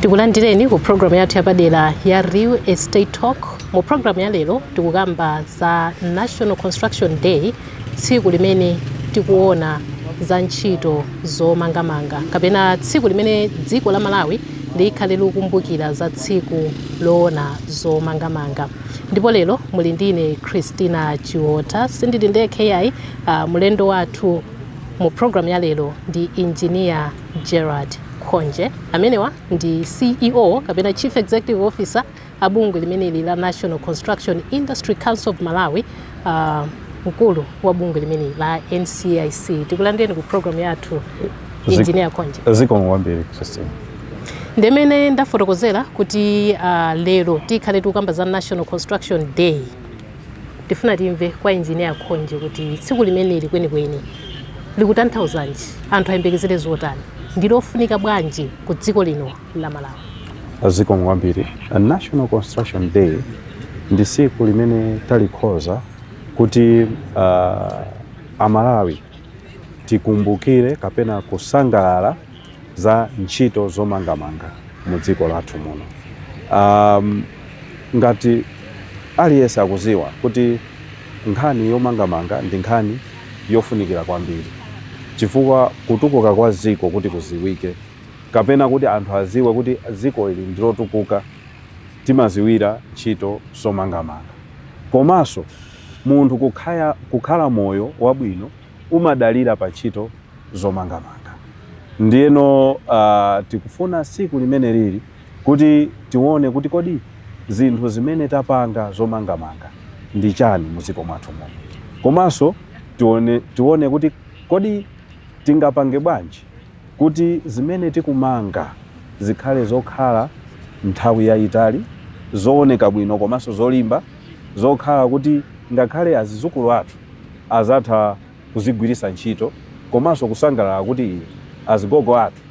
tikulandireni ku programu yathu yapadera ya real estate talk mu programu ya lero tikukamba za national construction day tsiku limene tikuona za ntchito zomangamanga kapena tsiku limene dziko la malawi likhale likukumbukira za tsiku loona zomangamanga ndipo lero muli ndi ine christina chiota sindili ndekha yayi uh, mulendo wathu Mu program ya lero ndi Engineer Gerald Khonje. Amenewa ndi CEO kapena Chief Executive Officer a bungwe limeneli la National Construction Industry Council of Malawi. Uh, mkulu wa bungwe limeneli la NCIC. Tikulandireni ku program yathu Engineer Khonje. Zikomo kwambiri Christine. Ndimmene ndafotokozera kuti uh, lero tikhale tikukamba za National Construction Day Tifuna timve kwa Engineer Khonje kuti tsiku limeneli kwenikweni likutanthauzanji, anthu ayembekezere zotani, ndilofunika bwanji ku dziko lino la Malawi? Zikomo kwambiri. National Construction Day ndi tsiku limene talikhoza kuti uh, Amalawi tikumbukire kapena kusangalala za ntchito zomangamanga mu dziko lathu muno. Um, ngati aliyense akuziwa kuti nkhani yomangamanga ndi nkhani yofunikira kwambiri chifukwa kutukuka kwa dziko kuti kuziwike kapena kuti anthu aziwe kuti dziko ili ndilotukuka timaziwira ntchito zomangamanga komanso munthu kukhaya, kukhala moyo wabwino umadalira pa ntchito zomangamanga. Ndiyeno tikufuna tsiku limeneli kuti tione kuti kodi zinthu zimene tapanga zomangamanga ndi chani mu dziko mwathu muno, komanso tione, tione kuti kodi tingapange bwanji kuti zimene tikumanga zikhale zokhala nthawi yayitali, zooneka bwino komanso zolimba, zokhala kuti ngakhale azizukulu athu. azatha kuzigwiritsa ntchito komanso kusangalala kuti ii azigogo athu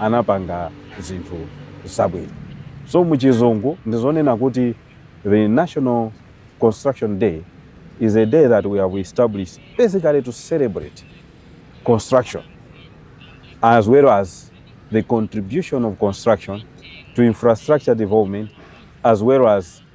anapanga zinthu zabwino so muchizungu ndizonena kuti the national construction day is a day that we have established basically to celebrate construction as well as the contribution of construction to infrastructure development as well as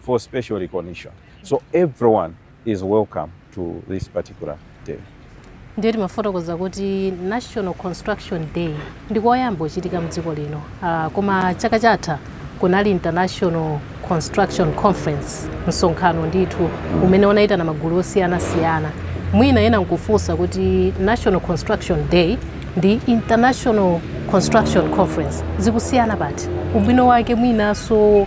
for special recognition. So everyone is welcome to this particular day. ndiye timafotokoza kuti national construction day ndi koyamba kuchitika mdziko lino uh, koma chaka chatha kunali international construction conference msonkhano ndithu umene unayitana magulu osiyanasiyana mwina ena nkufunsa kuti national construction day ndi international construction conference zikusiyana pati ubwino wake mwinanso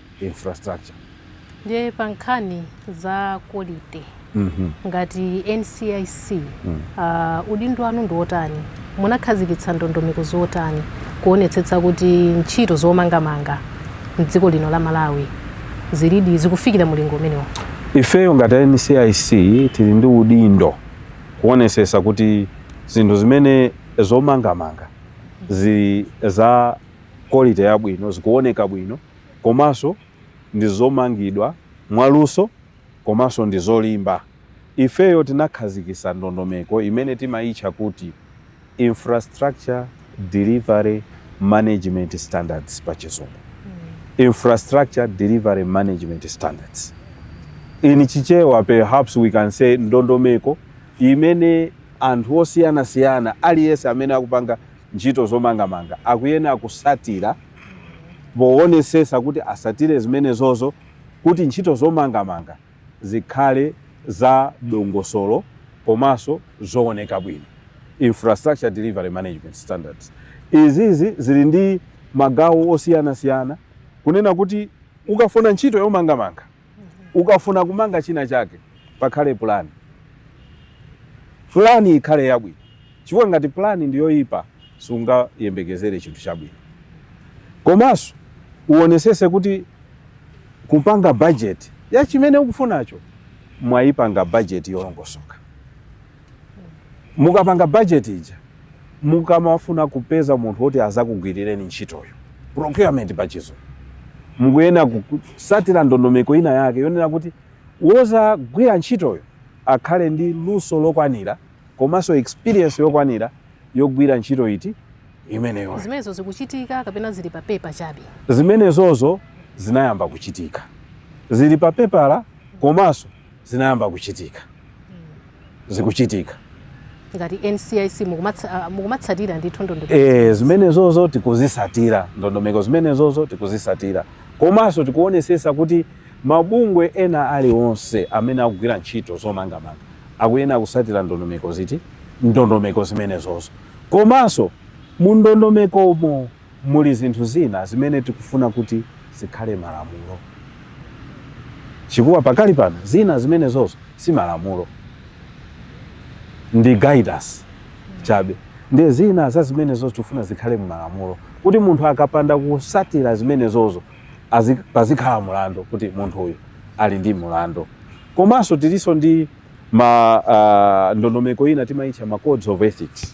infrastructure. Ndiye pa nkhani za quality ngati NCIC udindo wanu ndi wotani? Munakhazikitsa ndondomeko zotani kuonetsetsa kuti ntchito zomangamanga m'dziko lino la Malawi zilidi zikufikira mulingo umenewo? Ifeyo ngati NCIC tili ndi udindo kuonetsetsa kuti zinthu zimene zomangamanga zili za quality yabwino, zikuoneka bwino, komanso ndi zomangidwa mwaluso komanso ndi zolimba. Ifeyo tinakhazikitsa ndondomeko imene timaitcha kuti Infrastructure Delivery Management Standards pa Chizungu. Infrastructure Delivery Management Standards. In Chichewa perhaps we can say ndondomeko imene anthu osiyanasiyana aliyense amene akupanga ntchito zomangamanga akuyena kusatira powonesesa kuti asatire zimenezozo kuti ntchito zomangamanga zikhale za dongosolo komaso zowoneka bwino, infrastructure delivery management standards. Izizi zili ndi magawo osiyana siyana kunena kuti ukafuna ntchito yomangamanga ukafuna kumanga china chake pakhale plan plan ikhale yabwino chifukwa ngati plan ndiyoyipa sungayembekezere chinthu chabwino komanso uonesese kuti kupanga budget ya chimene ukufunacho mwayipanga budget yolongosoka mukapanga budget ija mukamafuna kupeza munthu woti azakugwirireni ntchitoyo procurement pachizungu mukuyena kusatira ndondomeko ina yake yonena kuti wozagwira ntchitoyo akhale ndi luso lokwanira komanso experience yokwanira yogwira ntchito iti imeneyo zimenezo zikuchitika kapena zili pa paper chabe zimenezozo zinayamba kuchitika zili pa pepala komanso zinayamba kuchitika zikuchitika ngati ncic mukumatsa- ah, mukumatsatira ndithu ndondomeko Eh, zimenezozo tikuzisatira ndondomeko zimenezozo tikuzisatira komanso tikuonesesa kuti mabungwe ena alionse amene akugwira ntchito zomangamanga akuyena kusatira ndondomeko ziti ndondomeko zimenezozo komanso mu ndondomekomo Muli zinthu zina zimene tikufuna kuti zikhale malamulo chifukwa pakali pano zina zimenezozo si malamulo, ndi guidance chabe. Ndiye zina za zimenezozo tikufuna zikhale m'malamulo kuti munthu akapanda kusatira zimenezozo pazikhala mulandu kuti munthu uyu ali ndi mulandu. Komanso tilinso ndi ma uh, ndondomeko ina timaitcha ma codes of ethics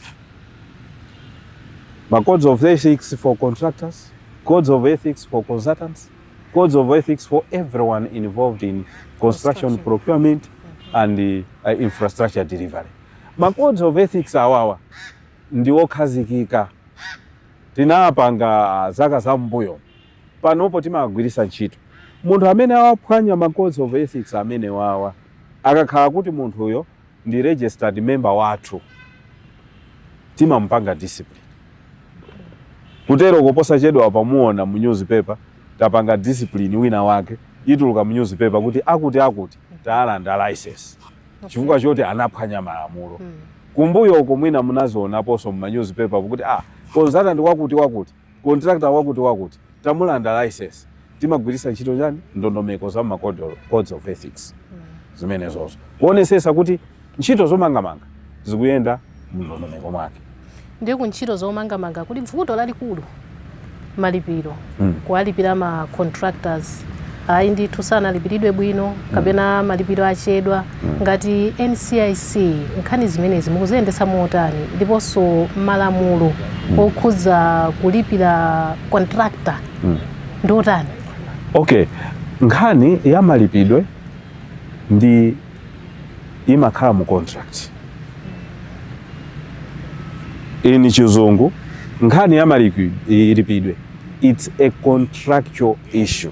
ma codes of ethics for contractors codes of ethics for consultants codes of ethics for everyone involved in construction procurement and uh, infrastructure delivery ma codes of ethics awawa ndi okhazikika tinawapanga zaka zam'mbuyo panopo timawagwirisa ntchito munthu amene awaphwanya ma codes of ethics amenewawa akakhala kuti munthuyo ndi registered member wathu timamupanga discipline kutero ko posachedwapa muona mu newspaper tapanga discipline wina wake ituluka mu newspaper kuti akuti akuti tawalanda license chifukwa choti anaphwanya malamulo hmm. kumbuyo uko mwina munazionaponso mu newspaper kuti ah consultant wakuti wakuti contractor wakuti wakuti tamulanda license timagwiritsa ntchito chani ndondomeko za ma codes of ethics zimenezozo kuonesesa kuti ntchito zomangamanga zikuyenda mndondomeko mwake ndiye ku ntchito zomangamanga kuli bvuto lalikulu malipiro Mm. kuwalipira ma contractors ayi ndithu sanalipiridwe bwino kapena malipiro achedwa Ngati NCIC, nkhani zimenezi mukuziyendetsa motani ndiponso malamulo okhudza kulipira contractor ndi otani? Okay, nkhani ya malipidwe ndi imakhala mu contract. M'chizungu nkhani ya malipidwe it's a contractual issue.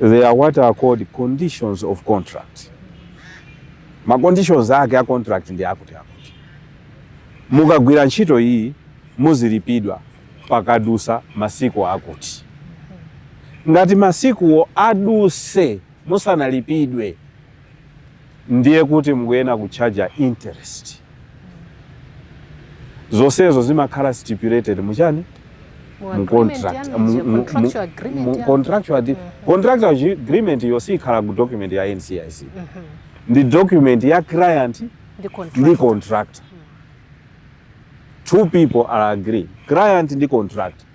There are what are called conditions of contract. Ma conditions ake a contract ndi akuti akuti. Mukagwira ntchito iyi muzilipidwa pakadusa masiku akuti. Ngati masikuwo aduse musanalipidwe ndiye kuti mukuyenera kutchaja interest zonsezo zimakhala stipulated muchani mu contract mu contractual mm-hmm. contractual agreement yo siikhala ku document ya NCIC mm-hmm. ndi document ya client ndi contractor mm. two people are agree client ndi contractor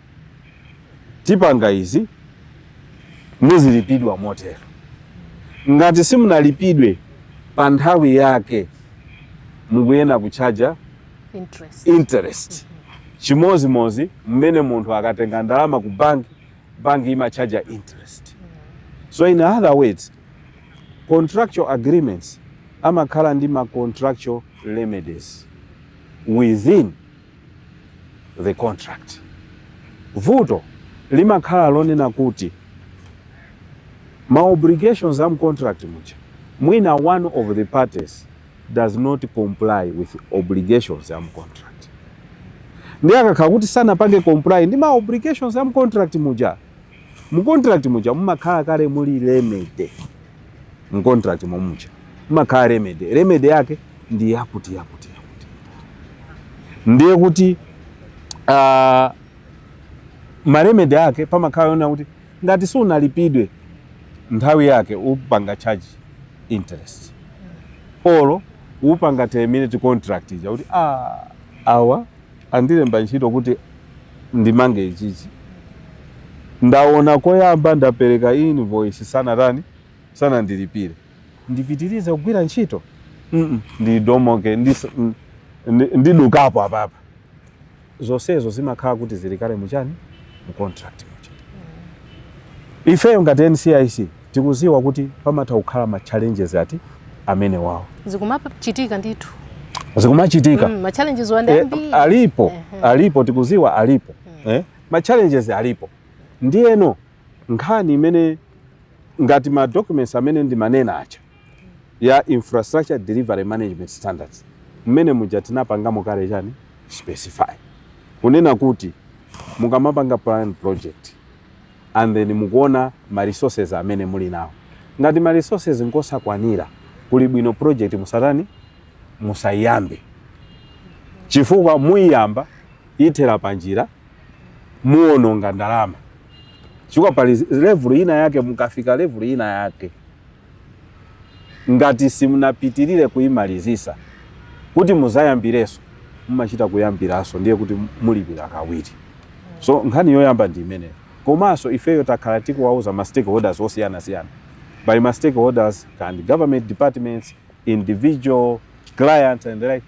tipanga izi muzilipidwa motero ngati simunalipidwe pa nthawi yake mukuyena kutchaja interest. chimozimozi mmene munthu akatenga ndalama ku bank bank imatchaja interest so in other words contractual agreements amakhala ndi ma contractual remedies within the contract. Vuto limakhala lonena kuti ma obligations am contract muja mwina one of the parties does not comply with obligations am contract. Ndiye akakhala kuti sanapange comply ndi ma obligations am contract muja Mu contract muja mumakhala kale muli remedy. Mu contract momuja mumakhala remedy. Remedy yake ndi yakuti yakuti yakuti. Ndiye kuti uh, ah, maremedy ake pamakhala yonena kuti ngati sunalipidwe nthawi yake upanga charge interest olo upanga terminate contract ija kuti ah, awa Andilemba ntchito kuti ndimange ichichi. Ndaona koyamba ndapereka invoice sanatani, sanandilipire. Ndipitirize kugwira ntchito? mm ndidomoke ndidukapo apapa. Zonsezo zimakhala kuti zili kale mu chani? Mu contract muja. Ifeyo ngati NCIC. Tikudziwa kuti pamatha kukhala ma challenges ngati amenewawo. Zikumachitika ndithu. Zikumachitika. Mm, ma challenges wa Eh, ngambiri. alipo, alipo tikudziwa alipo. Eh? Ma challenges alipo. Ndiyeno nkhani imene ngati ma documents amene ndimanena aja a infrastructure delivery management standards mmene muja tinapangamo kale chani specify kunena kuti mukamapanga plan project and then mukuona ma resources amene muli nawo. Ngati ma resources ngosakwanira, kuli bwino project musatani, musaiyambe. Chifukwa muiyamba, ithera panjira, muononga ndalama. Chifukwa pali level ina yake, mukafika level ina yake. ngati simunapitilire kuimalizisa kuti mudzayambirenso mumachita kuyambiranso ndiye kuti mulipira kawiri so nkhani yoyamba ndi imeneyo komanso ifeyo takhala tikuwauza ma stakeholders osiyanasiyana by ma stakeholders and government departments individual clients and like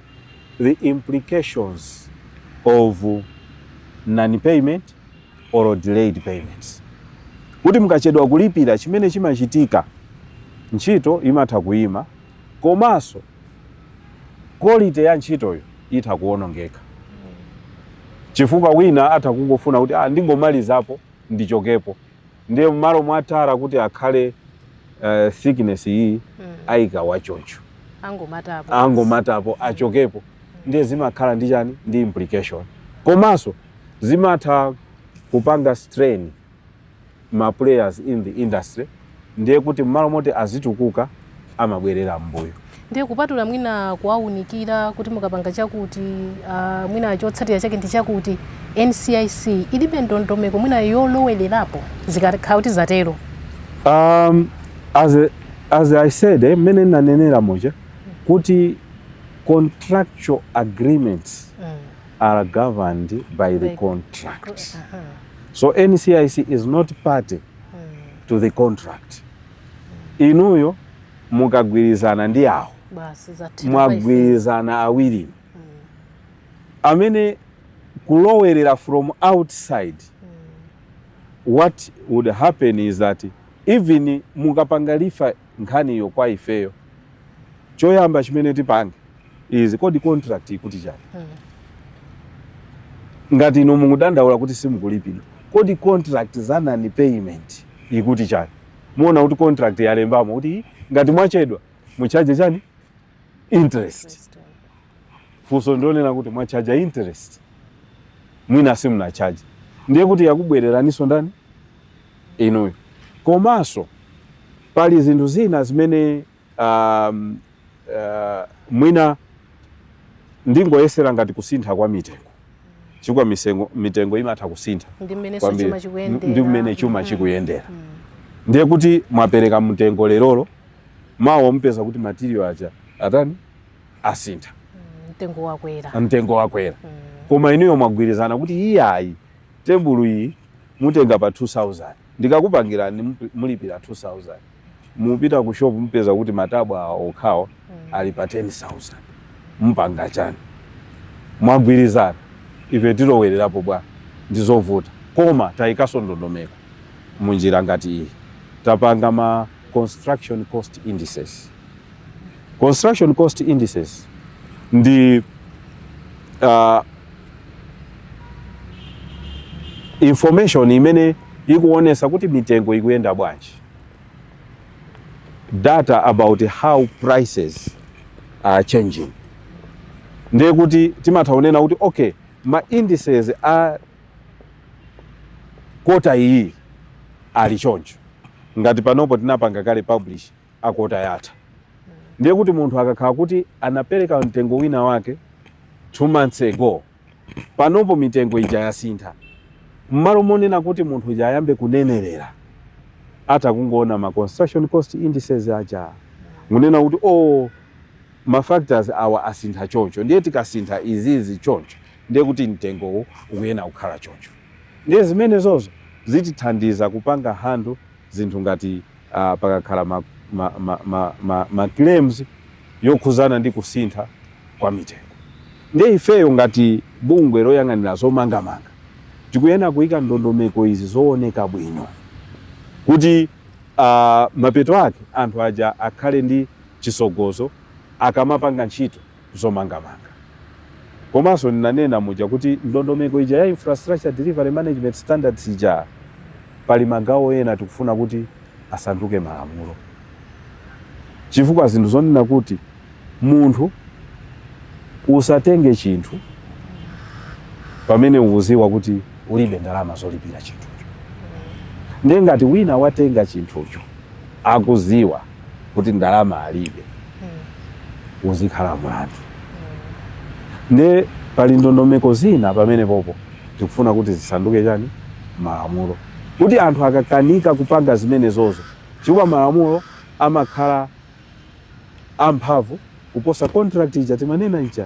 the implications of non payment or delayed payments kuti mukachedwa kulipira chimene chimachitika ntchito imatha kuima komanso quality ya ntchitoyo itha kuonongeka chifukwa wina atha kungofuna kuti ah, ndingomalizapo ndichokepo ndiye mmalo mwa tara kuti akhale uh, thickness iyi mm. aika wachoncho angomatapo angomatapo mm. achokepo ndiye zimakhala ndi chani ndi implication komanso zimatha kupanga strain ma players in the industry ndiye kuti mmalo moti azitukuka amabwerera m'mbuyo. Ndiye kupatula mwina kuwaunikira kuti mukapanga chakuti uh, mwina chotsatira chake ndi chakuti NCIC ilibe ndondomeko mwina yolowelerapo zikakhala kuti zatero. Um, as, a, as I said eh, mmene nanenera muja kuti contractual agreements mm. are governed by the contract. Uh -huh. So NCIC is not party mm. to the contract. inuyo mukagwirizana ndi awo basi zathera mwagwirizana awiri amene kulowerera from outside what would happen is that even mukapanga refer nkhaniyo kwa ifeyo choyamba chimene tipange is kodi contract ikuti chani ngati inu mukudandaula kuti simukulipidwa kodi contract za non payment ikuti chani muona kuti contract yalembamo kuti ngati mwachedwa mu charge chani interest funso ndionena kuti mwa charge interest mwina simuna charge ndiye kuti yakubwereraniso ndani inuyo komanso pali zinthu zina zimene Um, uh, mwina ndingoyesera ngati kusintha kwa mitengo chifukwa misengo- mitengo imatha kusintha Ndi mmenenso kwambiri. chuma chikuyendera. ndi mmene chuma Mhm. chikuyendera Mm. ndiye kuti mwapereka mtengo lerolo mawa mupeza kuti material aja atani asintha Mm, Mtengo wakwera. mtengo wakwera Mm. koma inuyo mwagwirizana kuti iyayi tebulu iyi mutenga pa 2000 ndikakupangirani mup- mulipira 2000 mupita ku shop mupeza kuti matabwa awo okhawo mm. ali pa 10000 mpanga chani mwagwirizana ife tilowererapo bwa ndizovuta koma tayikaso ndondomeko munjira ngati iyi tapanga ma construction cost indices construction cost indices ndi uh, information imene ikuonesa kuti mitengo ikuyenda bwanji data about how prices are changing ndiye kuti timatha kunena kuti okay ma indices a kota iyi ali choncho ngati panopo tinapanga kale publish a kota yatha ndiye kuti munthu akakhala kuti anapereka mtengo wina wake two months ago panopo mitengo ija yasintha. M'malo monena kuti munthu uja ayambe kunenerera, atha kungoona ma construction cost indices aja n'kunena kuti, Oo, ma factors awa asintha choncho, ndiye tikasintha izizi choncho, ndiye kuti mtengowu ukuyena kukhala choncho. Ndiye zimenezozo zitithandiza kupanga handle. zinthu ngati pakakhala ma claims yokhuzana ndi kusintha kwa mitengo. Ndiye ifeyo ngati bungwe loyang'anira zomangamanga tikuyena kuyika ndondomeko izi zowoneka bwino kuti mapeto ake anthu aja akhale ndi chisogozo akamapanga ntchito. zomangamanga. Komanso ndinanena muja kuti ndondomeko ija ya Infrastructure Delivery Management Standards ija pali magawo ena tikufuna kuti asanduke malamulo chifukwa zinthu zonena kuti munthu usatenge chinthu pamene ukuziwa kuti ulibe ndalama zolipira chinthucho. Ndiye ngati wina watenga chinthucho akuziwa kuti ndalama alibe uzikhala mlandu nde pali ndondomeko zina pamenepopo tikufuna kuti zisanduke chani malamulo kuti anthu akakanika kupanga zimenezozo chifukwa malamulo amakhala amphamvu kuposa contract ija timanena ija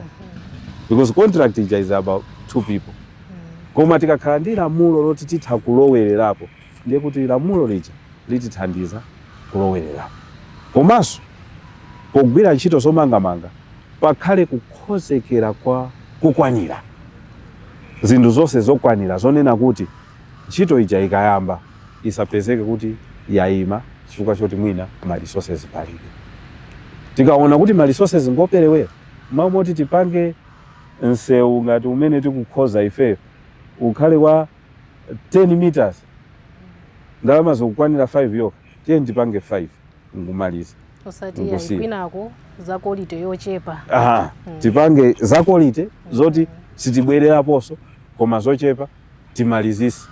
because contract ija is about two people koma tikakhala ndi lamulo loti titha kulowererapo ndiye kuti lamulo lija litithandiza kulowererapo. Komanso pogwira ntchito zomangamanga pakhale kukhozekera kokwanira, zinthu zonse zokwanira zonena kuti ntchito ija ikayamba isapezeke kuti yaima chifukwa choti mwina ma resources palibe. Tikaona kuti ma resources ngoperewera, m'malo moti tipange msewu ngati umene tikukhoza ifeyo ukhale wa 10 meters ndalama zikukwanira 5 yokha tiyeni tipange 5 nkumaliza osati ayi kwinako za quality yochepa tipange za quality zoti sitibwereraponso koma zochepa timalizise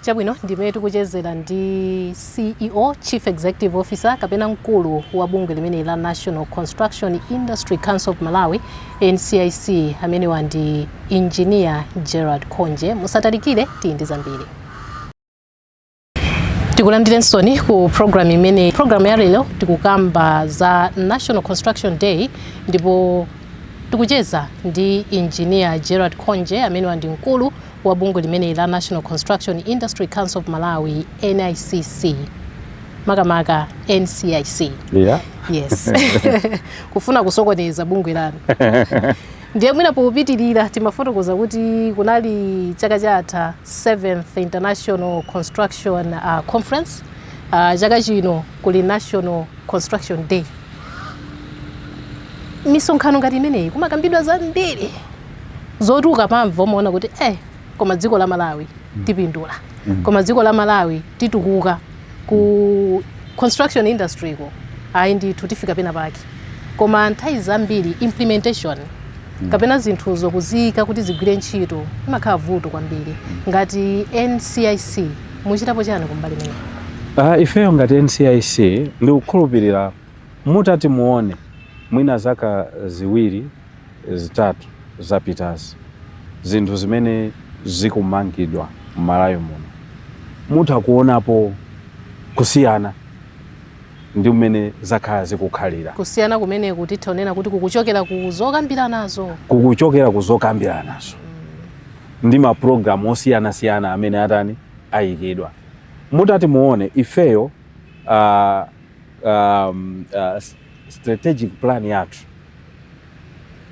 chabwino ndimene tikuchezera ndi ceo chief executive officer kapena mkulu wa bungwe limeneli la national construction industry council of malawi NCIC amenewa ndi Engineer Gerald Khonje musatalikire tidi ndi zambiri tikulandirensoni ku program imene program ya lero tikukamba za National Construction Day ndipo tikucheza ndi engineer Gerald Khonje amenewa ndi mkulu wa bungwe limeneli la National Construction Industry Council of Malawi NICC makamaka ncic yeah. yes kufuna kusokoneza bungwe lanu ndiye mwina popitirira timafotokoza kuti kunali chaka chatha 7th international construction uh, conference uh, chaka chino kuli national construction day misonkhano ngati imeneyi kumakambidwa zambiri zoti ukamamva umaona kuti eh koma dziko la malawi mm. tipindula mm. koma dziko la malawi titukuka ku construction industry ko ayi ndithu tifika pena pake koma nthawi zambiri implementation mm. kapena zinthuzo kuziyika kuti zigwire ntchito imakhala vuto kwambiri mm. ngati ncic muchitapo chani kumbali imene uh, ah, ifeyo ngati ncic ndikukhulupirira mutati muone mwina zaka ziwiri zitatu zapitazi zinthu zimene zikumangidwa mmalawi muno mutha kuonapo kusiyana ndi mmene zakhala zikukhalira? Kusiyana kumeneku titha kunena kuti kukuchokera ku zokambiranazo? Kukuchokera ku zokambiranazo mm. ndi maprogramu osiyanasiyana amene atani ayikidwa mutati muone ifeyo uh, um, uh, strategic plan yathu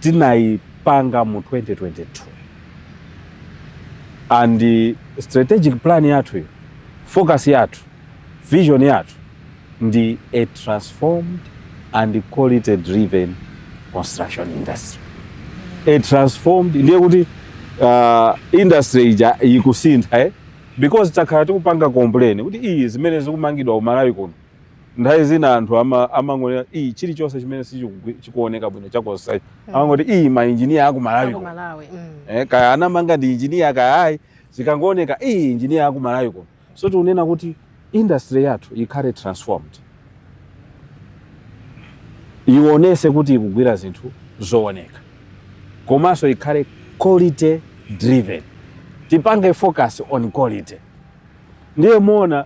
tinaipanga mu 2022 and strategic plan yathuyo focus yathu vision yathu ndi a transformed and quality driven construction industry a transformed ndiye kuti uh, industry ija ikusintha eh? because takhala tikupanga complain kuti iyi zimene zikumangidwa ku Malawi kuno nthawi zina anthu ama- amangonena iyi chilichonse chimene sichikugwi- chikuoneka bwino chakosako amangoti iyi mainjiniya aku malawi Ku Malawi. Mm. eh, kaya anamanga ndi injiniya kaya ayi zikangooneka iyi injiniya waku malawi kuno so tikunena kuti industry yathu ikhale transformed ionese kuti ikugwira zinthu zooneka komanso ikhale quality driven tipange focus on quality ndiye muona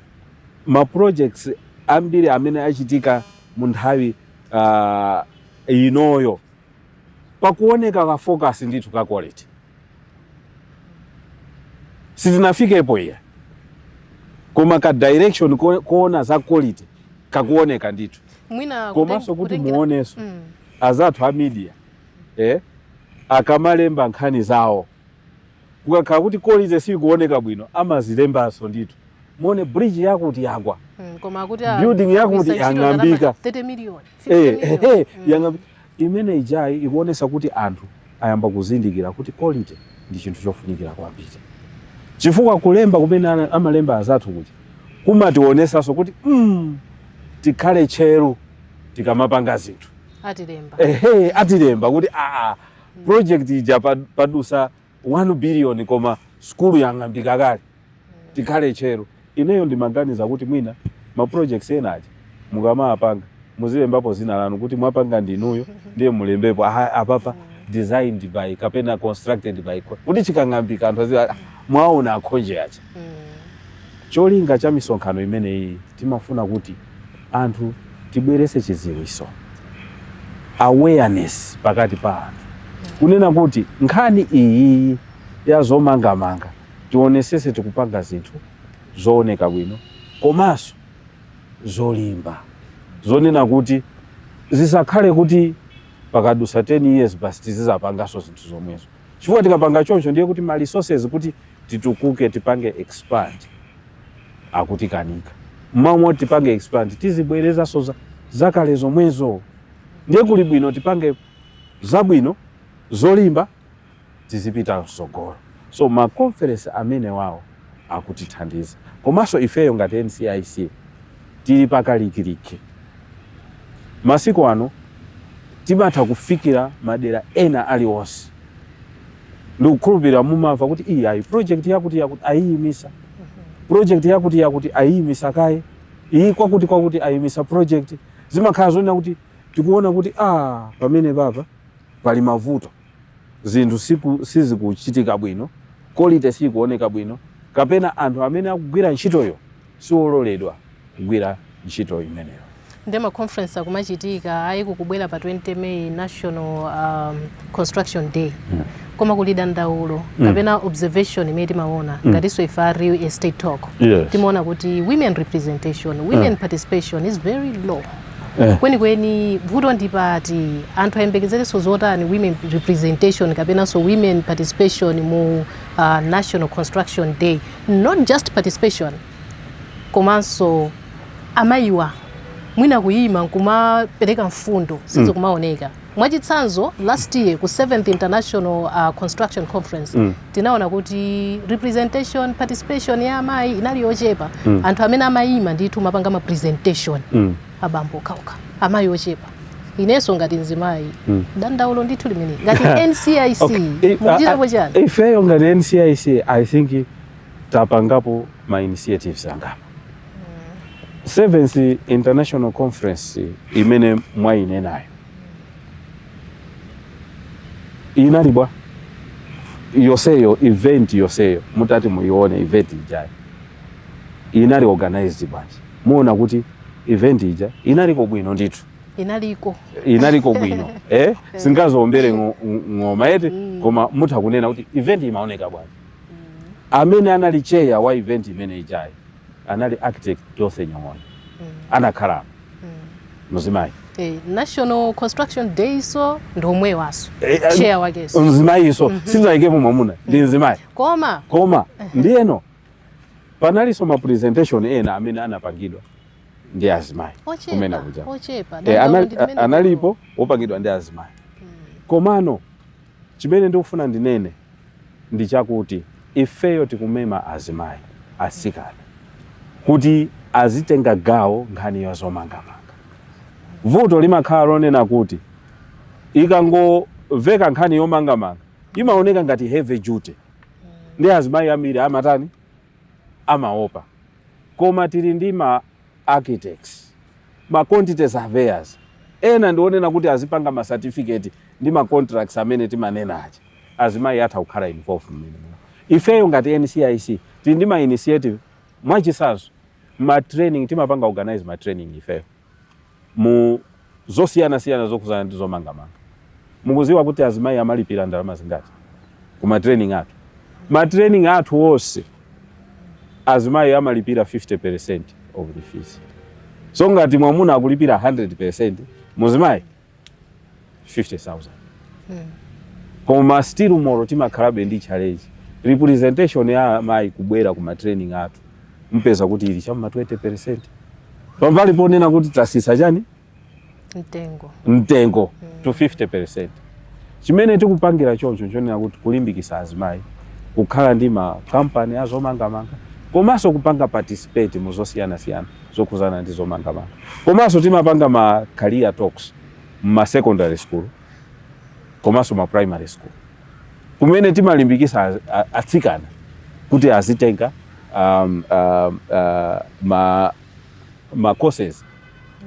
ma projects ambiri amene achitika mu nthawi uh, inoyo pakuoneka ka focus ndithu ka quality sitinafikepo iya koma ka direction ko- koona za quality kakuoneka ndithu mwina komanso kuti muonenso azathu a media eh, akamalemba nkhani zawo kukakhala kuti kolite sikuoneka bwino amazilembanso ndithu muone bridge yakuti yagwa Building yakuti yang'ambika. 30 million, 50 Eh, eh, million. eh, Mm. imene ijayi ikuonesa kuti anthu ayamba kuzindikira kuti quality ndi chinthu chofunikira kwambiri chifukwa kulemba kumene ana- amalemba azathu kuja kumationesanso kuti mm, tikhale tcheru tikamapanga zinthu atilemba ehe atilemba kuti aa project ija pa- padusa 1 billion koma skulu yang'ambika kale tikhale tcheru ineyo ndimaganiza kuti mwina ma projects ena aja mukamawapanga muzilembapo dzina lanu kuti mwapanga ndinuyo ndiye mulembepo "Aha, apapa designed by kapena constructed by co-" kuti chikang'ambika anthu aziwa "Ah, mwaona a Khonje aja cholinga cha misonkhano imeneyi timafuna kuti Anthu tibweretse chidziwitso, awareness pakati pa anthu kunena kuti nkhani iyiyi ya zomangamanga tionetsetse tikupanga zinthu zooneka bwino komanso zolimba zonena kuti zisakhale kuti pakadutsa 10 years basi tizizapanganso zinthu zomwezo chifukwa tikapanga choncho ndiye kuti ma resources kuti titukuke tipange expand akutikanika mmalo moti tipange expand tizibwerezanso za- zakale zomwezo ndiye kuli bwino tipange zabwino zolimba tizipita msogolo so ma conference amenewawo akutithandiza komanso ifeyo ngati ncic tili pakalikiliki. Masiku ano timatha kufikira madera ena aliwonse. Ndikukhulupirira mumamva kuti iyi ayi project yakuti yakuti ayiyimisa project yakuti yakuti ayiyimisa kaye iyi kwakuti kwakuti ayimisa project zimakhala zonena kuti tikuona kuti ah pamenepapa pali mavuto zinthu sizikuchitika bwino, kolite siyikuoneka bwino, kapena anthu amene akugwira ntchitoyo siwololedwa kugwira ntchito imeneyo. Nde ma conference akumachitika ayi ikubwera pa 20 May National um, Construction Day mm. koma kuli dandaulo mm. kapena observation imene timaona mm. ngatinso ife a real estate talk yes. timaona kuti women representation women mm. participation is very low Eh. kwenikweni vuto lili pati anthu ayembekezerenso zotani women representation kapenanso women participation mu uh, national construction day not just participation komanso amayiwa mwina kuyima nkumapereka mfundo sizo kumaoneka Mwachitsanzo last year ku 7th International uh, Construction Conference mm. tinaona kuti representation participation ya amayi inali yochepa mm. anthu amene amayima ndithu n'kumapanga ma presentation mm. abambo okhaokha amayi ochepa inenso ngati mzimayi mm. dandaulo ndithu limene ngati NCIC okay. Eh, mukuchitapo ah, ah, chani ifeyo ngati NCIC I think tapangapo ma initiatives angapo Seventh International Conference imene mwayinenayo inali bwa yonseyo event yonseyo mutati muyione event ijayo inali organized bwanji muona kuti event ija inaliko bwino ndithu inaliko bwino eh sindingaziombere ng'oma eti mm. koma mutha kunena kuti event imaoneka bwanji amene anali chair wa event imene ijayo anali architect Dorothy Nyong'onya mm. anakhala mm. mzimayi eh, National Construction Day so ndi omwewanso eh, eh, chair wakenso mzimayinso mm -hmm. sitinaikepo mwamuna ndi mm. mzimayi koma koma uh -huh. ndiyeno panalinso ma presentation ena amene anapangidwa ndi azimayi kumene kuja eh, analipo opangidwa ndi azimayi mm. komano Chimene ndikufuna ndinene ndi chakuti ifeyo tikumema azimayi, atsikana kuti azitenga gawo nkhani ya zomangamanga. Vuto limakhala lonena kuti ikangoveka nkhani yomangamanga imaoneka ngati heavy duty ndiye azimayi ambiri amatani, amaopa. Koma tili ndi ma. architects, ma quantity surveyors, ena ndi onena kuti azipanga ma certificate ndi ma contracts amene timanena aja. Azimayi atha kukhala involved mmenemo. Ifeyo ngati NCIC tili ndi ma initiative, mwachitsanzo ma training, timapanga organize ma training ifeyo. mu zosiyanasiyana zokhudzana ndi zomangamanga. Mukudziwa kuti azimayi amalipira ndalama zingati ku ma training athu? Ma training athu onse azimayi amalipira 50% of the fees. So ngati mwamuna akulipira 100% muzimayi 50000 koma still moro timakhalabe ndi challenge representation ya amayi kubwera ku matraining athu umpeza kuti ili chamma 20 percent pambali ponena kuti tasisa chani mtengo to 50 percent chimene tikupangira choncho chonena kuti kulimbikisa azimayi kukhala ndi makampani azomangamanga komanso kupanga participate mu zosiyanasiyana zokhuzana ndi zomangamanga komanso timapanga ma career talks mma secondary school komanso ma primary school kumene timalimbikisa az- a- atsikana kuti azitenga um, um, uh, ma, ma courses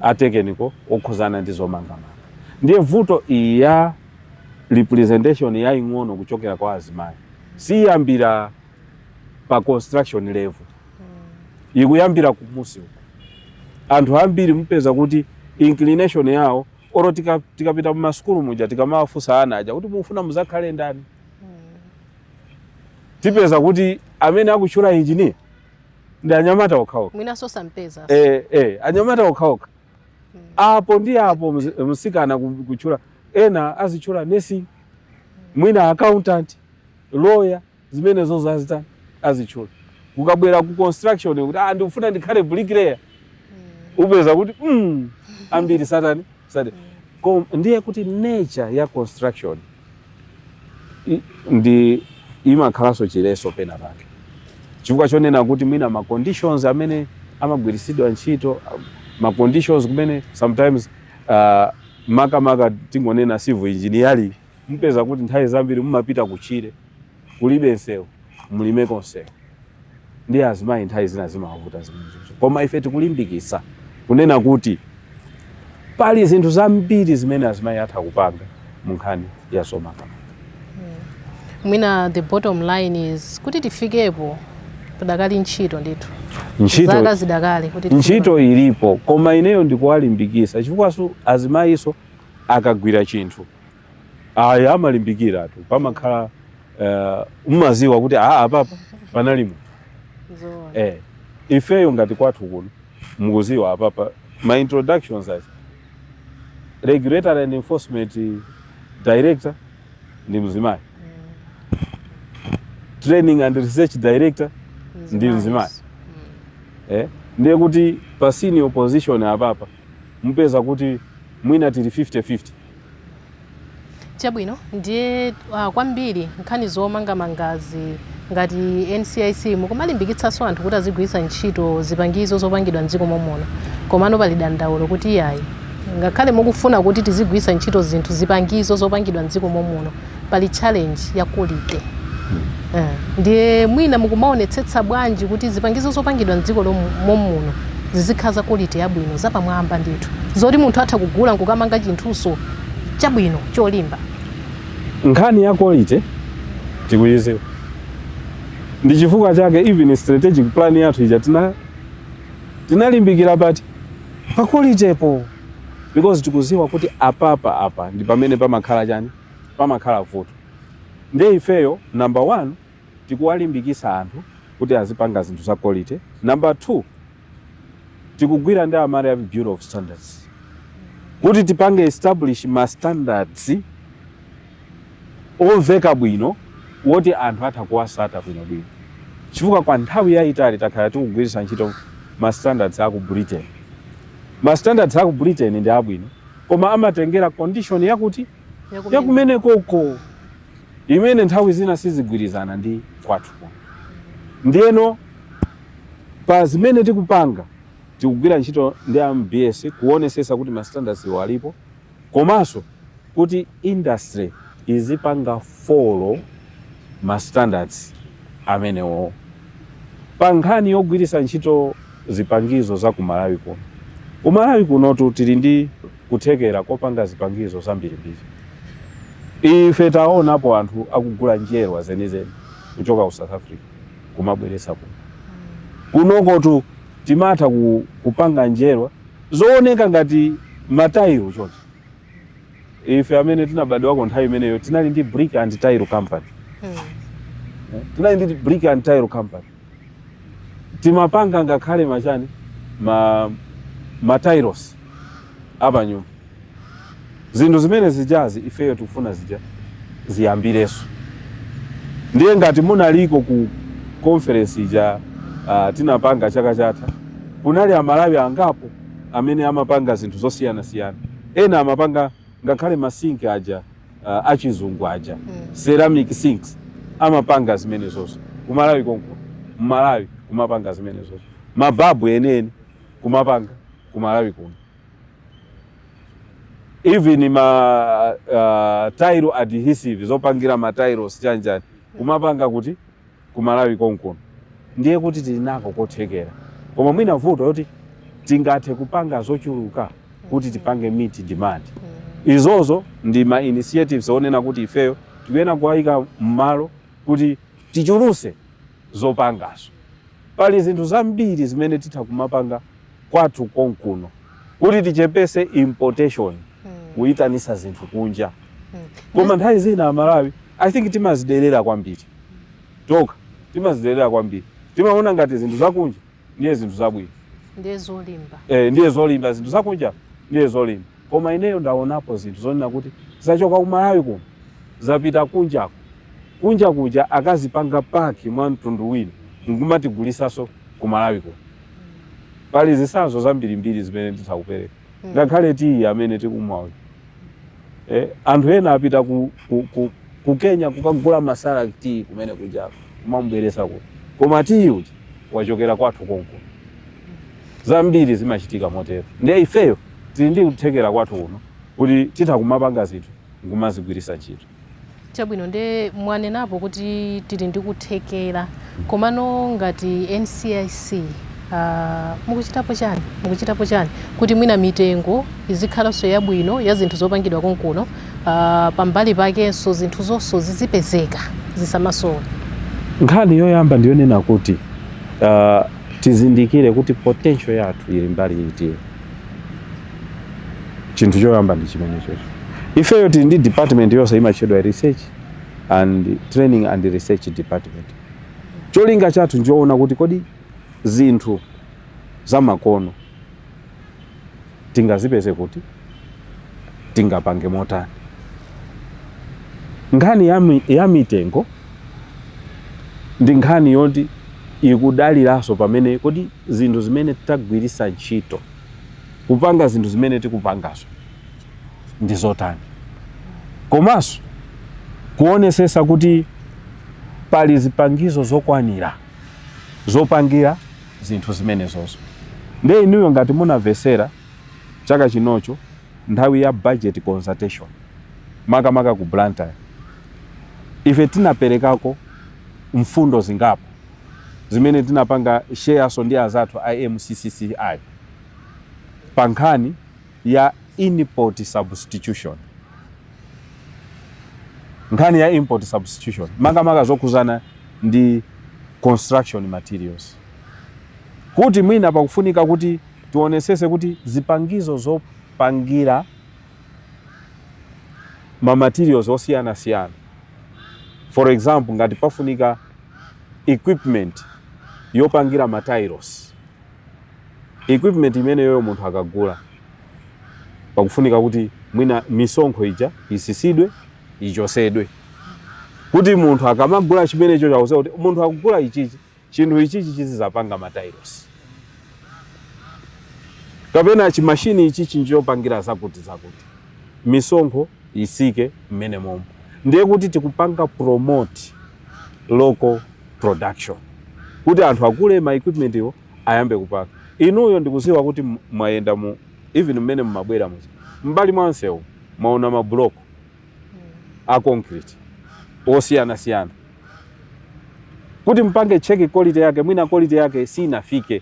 atekeniko okhuzana ndi zomangamanga ndiye vuto iyi ya representation yaing'ono kuchokera kwa azimayi siyambira pa construction level ikuyambira kumunsi uko anthu ambiri mupeza kuti inclination yawo oro tika- tikapita mumasukulu muja tikamawafunsa ana aja kuti mufuna muzakhale ndani tipeza kuti amene akutchula engineer ndi anyamata okhaokha mwinanso sampeza eh, eh, anyamata okhaokha apo ndi apo mzi- msikana ku- kutchula ena azitchula nursing mwina accountant lawyer zimenezozo azitani azitchula kukabwera ku construction kuti ah ndikufuna ndikhale bricklayer upeza kuti mm, ambiri satani satani Kom- ndiye kuti nature ya construction i- ndi imakhalanso chiletso pena pake chifukwa chonena kuti mwina ma conditions amene amagwiritsidwa ntchito ah, ma conditions kumene sometimes uh, makamaka tingonena civil engineering Mupeza kuti nthawi zambiri mumapita kutchire kulibe msewu, mulimeko msewu ndi azimayi nthawi zina zimawavuta zimenezo. Koma ife tikulimbikitsa kunena kuti pali zinthu zambiri zimene azimayi atha kupanga mu nkhani ya zomangamanga. mwina the bottom line is kuti tifikepo padakali ntchito ndithu Ntchito- zaka zidakali kuti tifike ntchito ilipo koma ineyo ndikuwalimbikitsa chifukwanso azimayinso akagwira chinthu Ayi, amalimbikiratu pamakhala eh, mumaziwa kuti aa apapa panali munthu Zoona. eh, ifeyo ngati kwathu kuno mukuziwa apapa ma introductions aja regulatory and enforcement director ndi mzimayi training and research director ndi mzimayi eh, ndiye kuti pa senior position apapa mupeza kuti mwina tili 50-50. Chabwino, ndiye uh, kwambiri nkhani zomangamangazi ngati NCIC mukumalimbikitsanso anthu kuti azigwiritsa ntchito zipangizo zopangidwa mdziko momuno komano pali dandaulo kuti iyayi ngakhale mukufuna kuti tizigwiritsa ntchito zinthu zipangizo zopangidwa mdziko momuno pali challenge ya quality Eh, ndiye mwina mukumaonetsetsa bwanji kuti zipangizo zopangidwa mdziko momuno zizikhala za quality yabwino zapamwamba ndithu zoti munthu atha kugula nkukamanga chinthuso chabwino cholimba nkhani ya quality tikuyiziwa ndi chifukwa chake even strategic plan yathu ija tinalimbikira pati pa quality po because tikuziwa kuti apapa apa ndi pamene pamakhala chani pamakhala vuto. Ndiye ifeyo number one tikuwalimbikisa anthu kuti azipanga zinthu za quality, number two tikugwira ndi a Malawi Bureau of Standards kuti tipange establish ma standards omveka bwino woti anthu atha kuwasata bwinobwino chifukwa kwa nthawi yayitali takhala tikugwiritsa ntchito ma standards aku Britain. Ma standards aku Britain ndi abwino koma amatengera condition yakuti yakumenekoko imene nthawi zina sizigwirizana ndi kwathu ndiyeno pa zimene tikupanga tikugwira ntchito ndi a mbs kuonesesa kuti ma standardswo alipo komanso kuti industry izipanga follow ma standards amenewo pa nkhani yogwiritsa ntchito zipangizo za ku Malawi kuno. Ku Malawi kunotu tili ndi kuthekera kopanga zipangizo zambirimbiri. Ife taonapo anthu akugula njerwa zenizeni kuchoka ku South Africa kumabweretsa kuno. Kunokotu timatha kupanga njerwa zooneka ngati matailo chonchi. ife amene tinabadwa kale nthawi imeneyo tinali ndi brick and tile company Eh, tinali ndi brick and tile company timapanga ngakhale machani ma tiles apanyumba zinthu zimene zijazi ifeyo tikufuna zija ziyambireso ndiye ngati munaliko ku conference ija uh, tinapanga chaka chatha kunali amalawi angapo amene amapanga zinthu zosiyanasiyana Ena amapanga ngakhale ma sink aja uh, achizungu aja mm. ceramic sinks amapanga zimenezoso kumalawi konkuno mmalawi kumapanga zimenezoso mababu eneni kumapanga kumalawi kuno even ma uh, tile adhesive zopangira ma tiles chanjani kumapanga kuti ku Malawi konkuno ndiye kuti tili nako kothekera koma mwina vuto loti tingathe kupanga zochuluka kuti tipange meet demand izozo ndi ma initiatives onena kuti ifeyo tikuyenera kuwayika m'malo kuti tichuluse zopangazo pali zinthu zambiri zimene titha kumapanga kwathu konkuno kuti tichepese importation kuyitanisa zinthu kunja koma nthawi zina amalawi i think timazidelera kwambiri tokha timazidelera kwambiri timaona ngati zinthu zakunja ndiye zinthu zabwino ndiye zolimba eh, ndiye zolimba zinthu zakunja ndiye zolimba koma ineyo ndaonapo zinthu zonena kuti zachoka kumalawi kuno zapita kunjako kunja kuja akazipanga paki mwa mtundu wina nkumatigulisaso kumalawi kuno pali zisanzo zambirimbiri zimene nditha kupereka ngakhale tiyi amene tikumwa uyu eh, anthu ena apita ku, ku, ku, ku kenya kukagula masala tiyi kumene kuja kumamubweresa kuno koma tiyi uja wachokera kwathu konkuno zambiri zimachitika motero ndiye ifeyo tili ndi kuthekera kwathu kuno kuti titha kumapanga zinthu nkumazigwirisa ntchito Chabwino nde mwanenapo kuti tili ndi kuthekera komano ngati NCIC uh, mukuchitapo chani mukuchitapo chani kuti mwina mitengo izikhalanso yabwino ya zinthu zopangidwa konkuno uh, pambali pakenso zinthu zonso zizipezeka zisamasowa Nkhani yoyamba ndiyonena kuti uh, tizindikire kuti potential yathu ili mbali iti. chinthu choyamba ndi chimene chocho ifeyo tili ndi department yonse imatchedwa research and training and research department cholinga chathu nchoona kuti kodi zinthu zamakono tingazipeze kuti tingapange motani nkhani ya, mi, ya mitengo ndi nkhani yoti ikudaliranso pamene kodi zinthu zimene tagwiritsa ntchito kupanga zinthu zimene tikupangazo ndi zotani komanso kuonesesa kuti pali zipangizo zokwanira zopangira zinthu zimenezozo nde inuyo ngati munamvesera chaka chinocho nthawi ya budget consultation makamaka ku blantyre ife tinaperekako mfundo zingapo zimene tinapanga shareso ndi azathu a MCCCI pa nkhani ya import substitution, nkhani ya import substitution makamaka zokhuzana ndi construction materials kuti mwina pakufunika kuti tionesese kuti zipangizo zopangira ma materials osiyanasiyana for example ngati pafunika equipment yopangira ma tailosi equipment imeneyoyo munthu akagula pakufunika kuti mwina misonkho ija isisidwe ichosedwe kuti munthu akamagula chimenecho chakuti kuti munthu akugula ichichi chinthu ichichi chizizapanga matailosi kapena chimashini ichichi njopangira zakuti zakuti misonkho isike mmene momo ndiye kuti tikupanga promote local production kuti anthu agule ma equipment iwo ayambe kupanga inuyo ndikuziwa kuti mwayenda mu even mmene mmabwera muja mbali mwansewu mwaona ma block a concrete osiyana siyana kuti mpange cheki quality yake mwina quality yake sinafike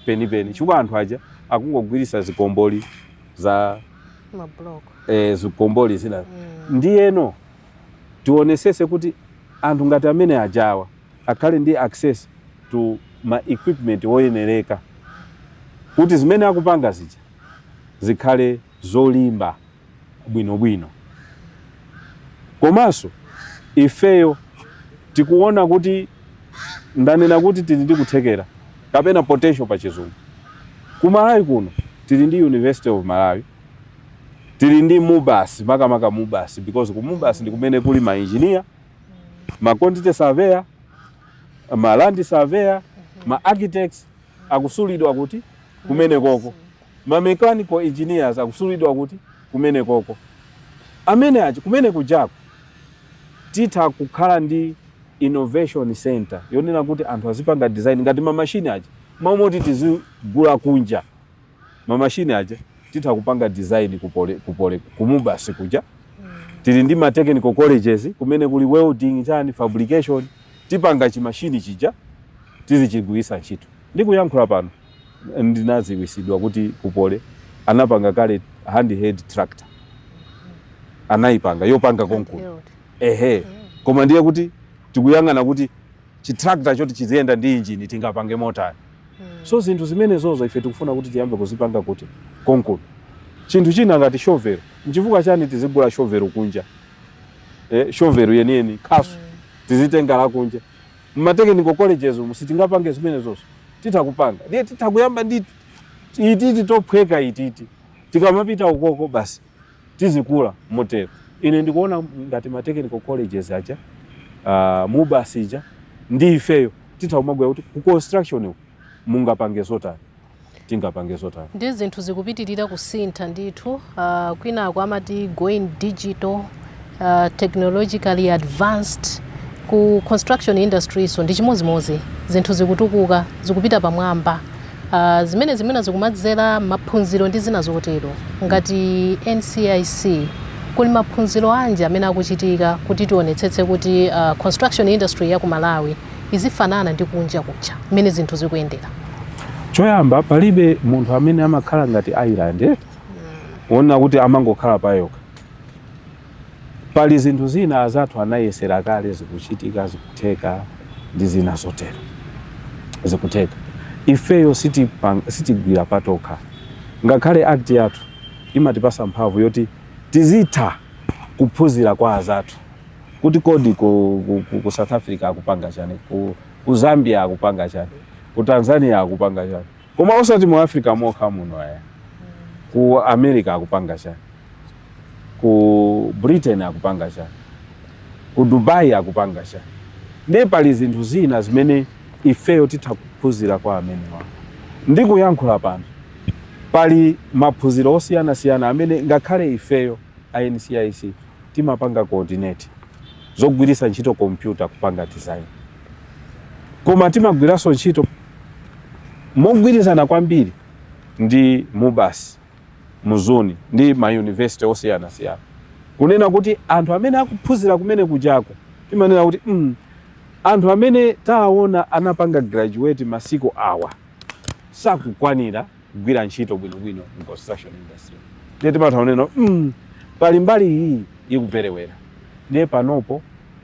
penipeni chifukwa anthu aja akungogwirisa zikomboli za e, zikomboli zina mm. ndiyeno tionesese kuti anthu ngati amene ajawa akhale ndi access to ma equipment oyenereka kuti zimene akupanga zija zikhale zolimba bwinobwino komanso ifeyo tikuona kuti ndanena kuti tili ndi kuthekera kapena potential pa chizungu kumalawi kuno Tili ndi University of Malawi, tili ndi Mubas, makamaka Mubas because ku Mubas ndi kumene kuli ma engineer, ma quantity surveyor, ma land surveyor, ma architects akusulidwa kuti kumene koko, ma mechanical engineers akusulidwa kuti kumene koko, amene aja kumene kujaku titha kukhala ndi innovation center yonena kuti anthu azipanga design ngati ma machine aja. Mmalo moti tizigula kunja ma machine aja titha kupanga design ku Poly, ku Mubas kuja tili ndi ma technical colleges kumene kuli welding chani fabrication tipanga chi machine chija tizichigwiritsa ntchito. Ndikuyankhula pano ndinadziwitsidwa kuti ku Poly anapanga kale handheld tractor anayipanga yopanga konkuno Handheld. ehe koma ndiye kuti tikuyang'ana kuti chi tractor choti chiziyenda ndi engine tingapange motani hmm. so zinthu zimenezozo ife tikufuna kuti tiyambe kuzipanga kuti konkuno chinthu china ngati shovel nchifukwa chani tizigula shovel kunja eh, shovel yeniyeni khasu hmm. tizitenga la kunja mma technical colleges umu sitingapange zimenezozo titha kupanga ndiye titha kuyamba ndi ititi tophweka ititi tikamapita ukoko basi tizikula motero. Ine ndikuona ngati ma technical colleges aja, uh, mubas ija ndi ifeyo titha kumagwirana kuti ku construction uku mungapange zotani tingapange zotani Ndiye zinthu zikupitirira kusintha ndithu uh, kwinaku amati going digital uh, technologically advanced ku construction industry so ndi chimodzimodzi zinthu zikutukuka zikupita pamwamba uh, zimene zimene zikumadzera maphunziro ndi zina zotero ngati ncic kuli maphunziro anji amene akuchitika kuti tionetsetse kuti uh, construction industry ya ku malawi izifanana ndi kunja kuja mmene zinthu zikuyendera choyamba palibe munthu amene amakhala ngati island eh? wona kuti amangokhala payokha Pali zinthu zina azathu anayesera kale zikuchitika zikutheka ndi zina zotero zikutheka ifeyo sitigwira patokha ngakhale act yathu imatipasa mphamvu yoti tizitha kuphunzira kwa azathu kuti kodi ku, ku, ku, ku south africa akupanga chani ku, ku zambia akupanga chani ku tanzania akupanga chani koma osati mu africa mokha muno ayi ku america akupanga chani ku Britain akupanga chani, ku Dubai akupanga chani. Ndiye pali zinthu zina zimene ifeyo titha kuphunzira kwa amenewa. Ndikuyankhula pano, pali maphunziro osiyanasiyana amene ngakhale ifeyo a NCIC timapanga coordinate zogwiritsa ntchito kompyuta kupanga design, koma timagwiranso ntchito mogwirizana kwambiri ndi Mubas. Mzuni ndi ma university osiyanasiyana kunena kuti anthu amene akuphunzira kumene kujako timanena kuti mm, anthu amene taona anapanga graduate masiku awa sakukwanira kugwira ntchito bwinobwino mu construction industry ndiye timatha kunena mm, pali mbali iyi ikuperewera ndiye panopo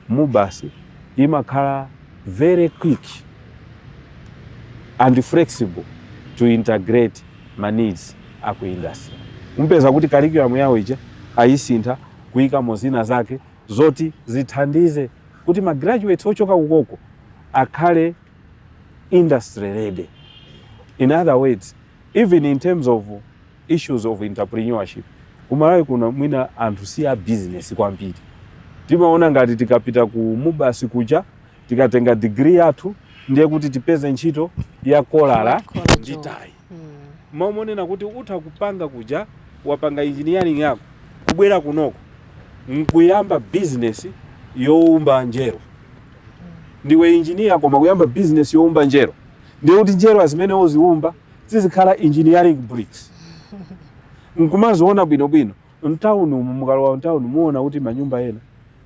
Mubas imakhala very quick and flexible to integrate ma needs a ku industry. Mupeza kuti curriculum yawo ija ayisintha kuyikamo zina zake zoti zithandize kuti ma graduates ochoka kukoko akhale industry ready. In other words, even in terms of issues of entrepreneurship ku Malawi kuno mwina anthu si a business kwambiri timaona ngati tikapita ku Mubas kuja tikatenga degree yathu ndiye kuti tipeze ntchito ya kolala ndi tayi mmalo monena kuti utha kupanga kuja wapanga engineering yako kubwera kunoko nkuyamba business youmba njerwa ndiwe engineer koma kuyamba business youmba njerwa ndiye kuti njerwa zimene uziumba zizikhala engineering bricks nkumaziona bwinobwino mtown umu mukalowa mtown muona kuti manyumba ena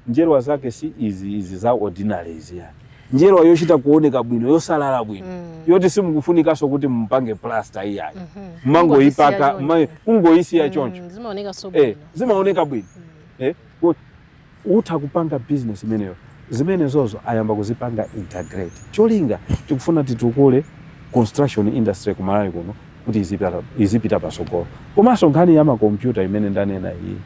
njerwa zake si izi izi za ordinary izi ayi njerwa yochita kuoneka bwino yosalala bwino yoti simukufunikanso kuti mupange plaster iyayi mmangoyipaka Kungoyisiya choncho. mma- kungoyisiya choncho Mm, zimaoneka so eh, bwino zimaoneka bwino eh, ku- utha kupanga business imeneyo zimenezozo ayamba kuzipanga integrate cholinga tikufuna titukule construction industry ku Malawi kuno kuti izipita, izipita pasogolo komanso nkhani ya makompyuta imene ndanena iyi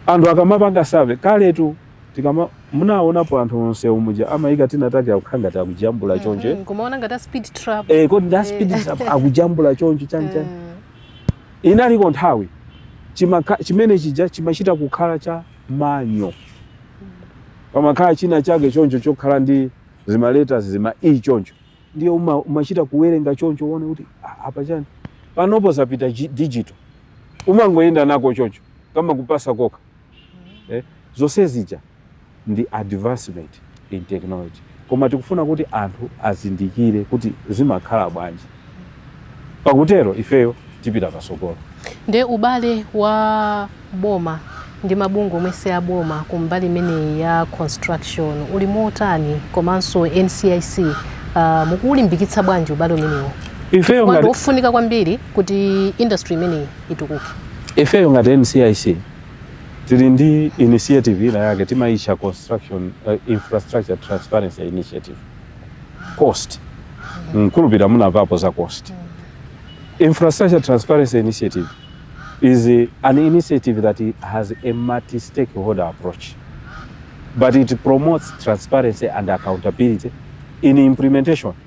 anthu akamapanga save kaletu tikama munaonapo anthu onse umuja amayika tinatake akukhala ngati akujambula mm-hmm. chonje mm -hmm. kumaona ngati speed trap eh kodi nda eh. speed trap akujambula choncho chani chani mm. Inaliko nthawi chimakha, chimene chija chimachita kukhala cha manual. Pamakhala china chake choncho chokhala ndi zimaleta zima e choncho, ndiye uma, umachita kuwerenga choncho uone kuti ah, apa chani panopo zapita digital, umangoyenda nako choncho kama kupasa kokha eh, zonse zija ndi advancement in technology koma tikufuna kuti anthu azindikire kuti zimakhala bwanji pakutero ifeyo tipita pasogolo nde ubale wa boma ndi mabungwe omwe si a boma ku mbali imeneyi ya construction uli motani komanso ncic uh, ah, mukuulimbikitsa bwanji ubale umenewo ifeyo ngati wofunika kwambiri kuti industry imeneyi itukuke. Ifeyo ngati NCIC tili ndi initiative ina yake timaitcha construction uh, infrastructure transparency initiative cost mkulupira munamvapo za cost infrastructure transparency initiative is an initiative that has a multi stakeholder approach but it promotes transparency and accountability in implementation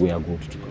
we are good to go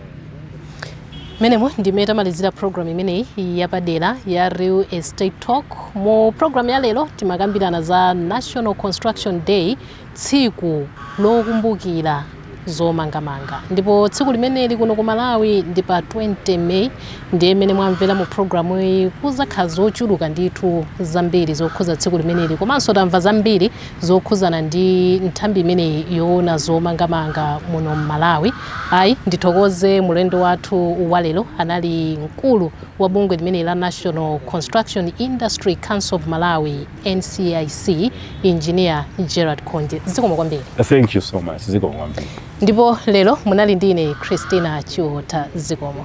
mmenemo ndi mmene tamalizira program imeneyi yapadera ya real estate talk mu program ya lero timakambirana za national construction day tsiku lokumbukira zomangamanga ndipo tsiku limeneli kuno ku malawi ndi pa 20 may ndiye mmene mwamvera mu programu iyi kuzakhala zochuluka ndithu zambiri zokhuza tsiku limeneli komanso tamva zambiri zokhudzana ndi nthambi imeneyi yoona zomangamanga muno m'malawi ayi ndithokoze mulendo wathu walero anali mkulu wa bungwe limeneli la national construction industry council of malawi ncic engineer gerald khonje zikomo kwambiri thank you so much zikomo kwambiri ndipo lero munali ndi ine christina chiota zikomo